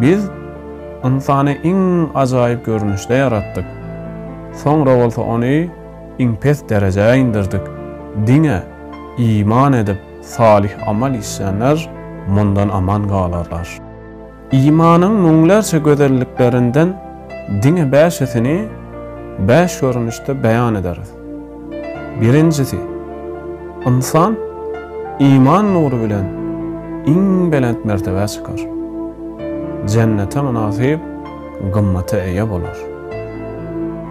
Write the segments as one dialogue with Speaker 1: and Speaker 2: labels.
Speaker 1: Biz ynsany iň ajaýyp görnüşde ýaratdyk. Soňra bolsa ony iň pes derejä indirdik. Diňe iman edip, salyh amal işleýänler mundan aman galarlar. Imanyň müňlerçe gözelliklerinden Diňe bäşisini bäş görnüşde beýan ederis. Birinjisi, ynsan iman nury bilen iň belent mertebä çykar. Jennete mynasyp gymmata eýe bolar.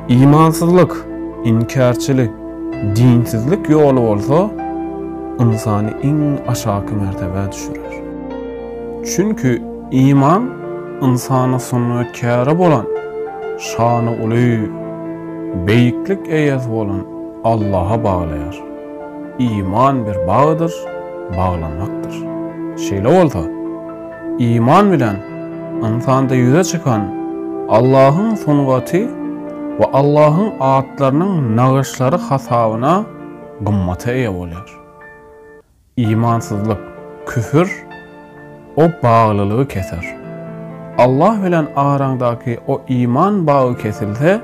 Speaker 1: Imansyzlyk, inkärçilik, dinsizlik ýoly bolsa ynsany iň aşaky mertebä düşürer. Çünki. Iman ynsana sungatkere bolan şany uly, beýiklik eýesi bolan Allaha baglaýar. Iman bir bagdyr, baglamakdyr. Şeýle bolsa, iman bilen ynsanda ýüze çykan Allahyň sungaty we Allahyň atlarynyň nagyşlary hasabyna gymmata eýe bolýar. Imansyzlyk, küfür, o baglylygy keser. Allah bilen araňdaky o iman bagy kesilse,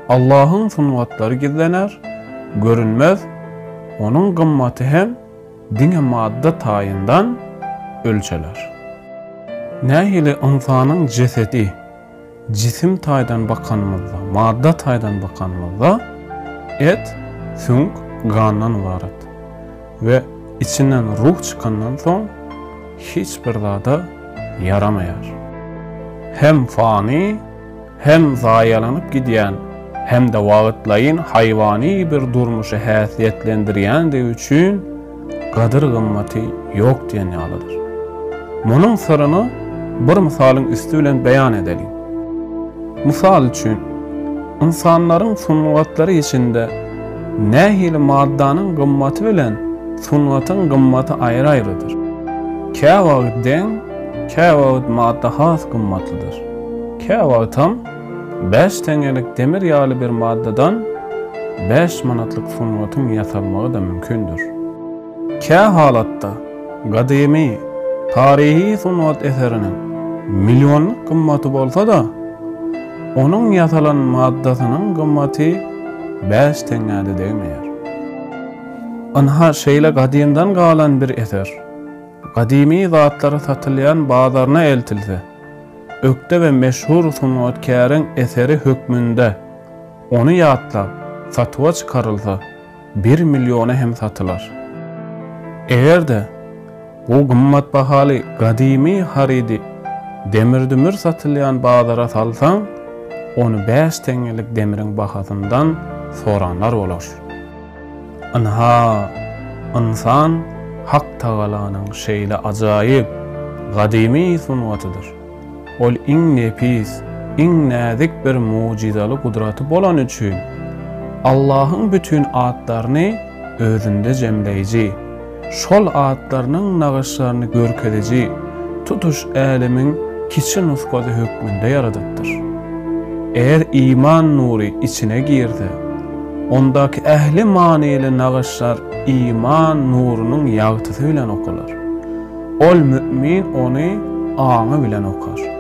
Speaker 1: Allahyň sungatlary gizlener, görünmez, Onuň gymmaty hem diňe madda taýyndan ölçeler. Nähili ynsanyň jesedi. Jisim taýdan bakanymyzda, madda taýdan bakanymyzda et, süňk, gandan ybarat we içinden ruh çykandan soň hiç bir zada ýaramaýar. Hem fany, hem zaýalanyp gidýän, hem-de wagtlaýyn haýwany bir durmuşy häsiýetlendirýändigi üçin, gadyr-gymmaty ýok diýen ýalydyr. Munuň syryny bir mysalyň üsti bilen beýan edeliň. Mysal üçin, ynsanlaryň sungatlary içinde nähili maddanyň gymmaty bilen sungatyň gymmaty aýry-aýrydyr. Käwagt deň, käwagt madda has gymmatlydyr. Käwagtam Bäş teňelik demir ýaly bir maddadan bäş manatlyk sungatyň ýasalmagy-da mümkindir. Kä halatda, gadymy, taryhy sungat eseriniň millionlyk gymmaty bolsa-da, onuň ýasalan maddasynyň gymmaty bäş teňňä-de degmeýär. Ynha, şeýle gadymdan galan bir eser, gadymy zatlary satylýan bazaryna eltilse, Ökde we meşhur sungatkäriň eseri hökmünde ony ýatlap, satuwa çykarylsa, bir milliona hem satylar. Eger-de bu gymmat bahaly gadymy harydy demir-dümür satylýan bazara salsaň, ony bäş teňňelik demriň bahasyndan soranlar bolar. Ynha, ynsan Hak Tagalanyň şeýle ajaýyp, gadymy sungatydyr. Ol iň nepis, iň näzik bir mugjyzaly gudraty bolany üçin, Allahyň bütin atlaryny özünde jemleýji, şol atlarynyň nagyşlaryny görkeziji tutuş älemiň kiçi nusgasy hökmünde ýaradypdyr. Eger iman nury içine girse, ondaky ähli manyly nagyşlar iman nurunyň ýagtysy bilen okalar. Ol mümin ony aňy bilen okar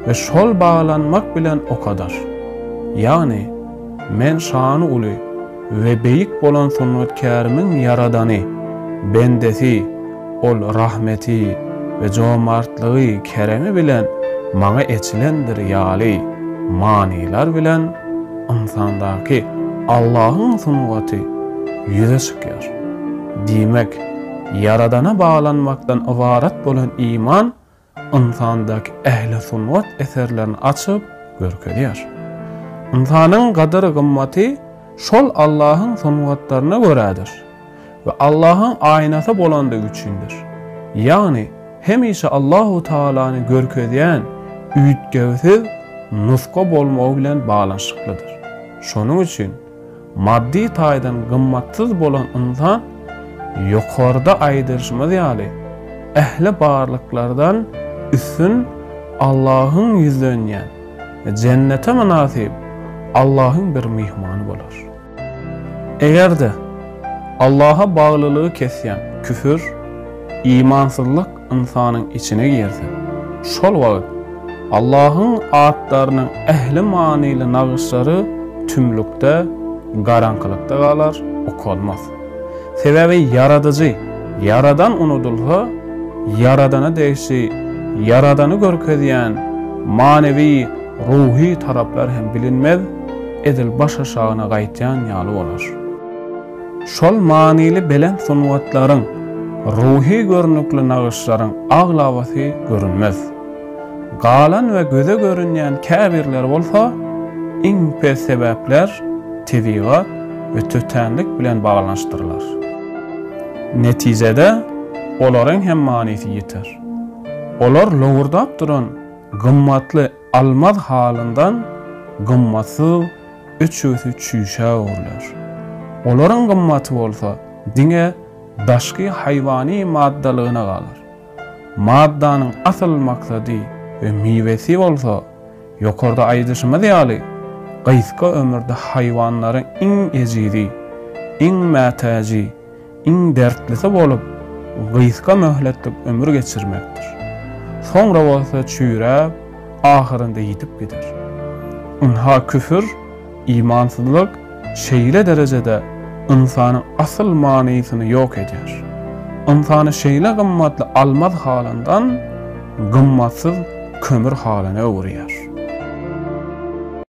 Speaker 1: we şol baglanmak bilen okadar. Ýagny, Men şany uly we beýik bolan sungatkärimiň ýaradany, bendesi, ol rahmeti we jomartlygy, keremi bilen maňa eçilendir ýaly manylar bilen ynsandaky Allahyň sungaty ýüze çykýar. Diýmek, Ýaradana baglanymakdan ybarat bolan iman ynsandaky ähli sungat eserlerini açyp görkezýär. Ynsanyň gadyr-gymmaty şol Allahyň sungatlaryna görädir we Allahyň aýnasy bolandygy üçindir. Ýagny hemişe Allahu Tagalany görkezýän üýtgewsiz nusga bolmagy bilen baglanyşyklydyr. Şonuň üçin. Maddy taýdan gymmatsyz bolan ynsan, ýokarda aýdylyşymyz ýaly, ähli barlyklardan üstün Allahyň ýüzlenýän, jennete mynasyp Allahyň bir myhmany bolar. Eger-de, Allaha baglylygy kesýän küfür, imansyzlyk, ynsanyň içine girse, şol wagt Allahyň atlarynyň ähli manyly nagyşlary tümlükde, garaňkylykda galar, okalmaz. Sebäbi Ýaradyjy, Ýaradan unudylsa, Ýaradana degişli, Ýaradany görkezýän manywy, ruhy taraplar hem bilinmez, edil başaşagyna gaýtýan ýaly bolar. Şol manyly belent sungatlaryň, ruhy görnükli nagyşlaryň aglabasy görünmez. Galan we göze görünýän käbirleri bolsa iň pes sebäpler, tebigat we tötänlik bilen baglanyşdyrylar. Netijede, olaryň hem manysy ýiter. Olar lowurdap duran gymmatly Almaz halyndan gymmatsyz üçüsi çüýşä öwrüler. Olaryň gymmaty bolsa diňe daşky haýwany maddalygyna galar. Maddanyň asyl maksady we miwesi bolsa, ýokarda aýdyşymyz ýaly, gysga ömürde haýwanlaryň iň ejizi, iň mätäji, iň dertlisi bolup, gysga möhletlik ömür geçirmekdir. Soňra bolsa çüýräp, ahyrynda ýitip gider. Ynha küfür, imansyzlyk şeýle derejede ynsanyň asyl manysyny ýok edýär. Ynsany şeýle gymmatly almaz halyndan, gymmatsyz kömür halyna öwürýär.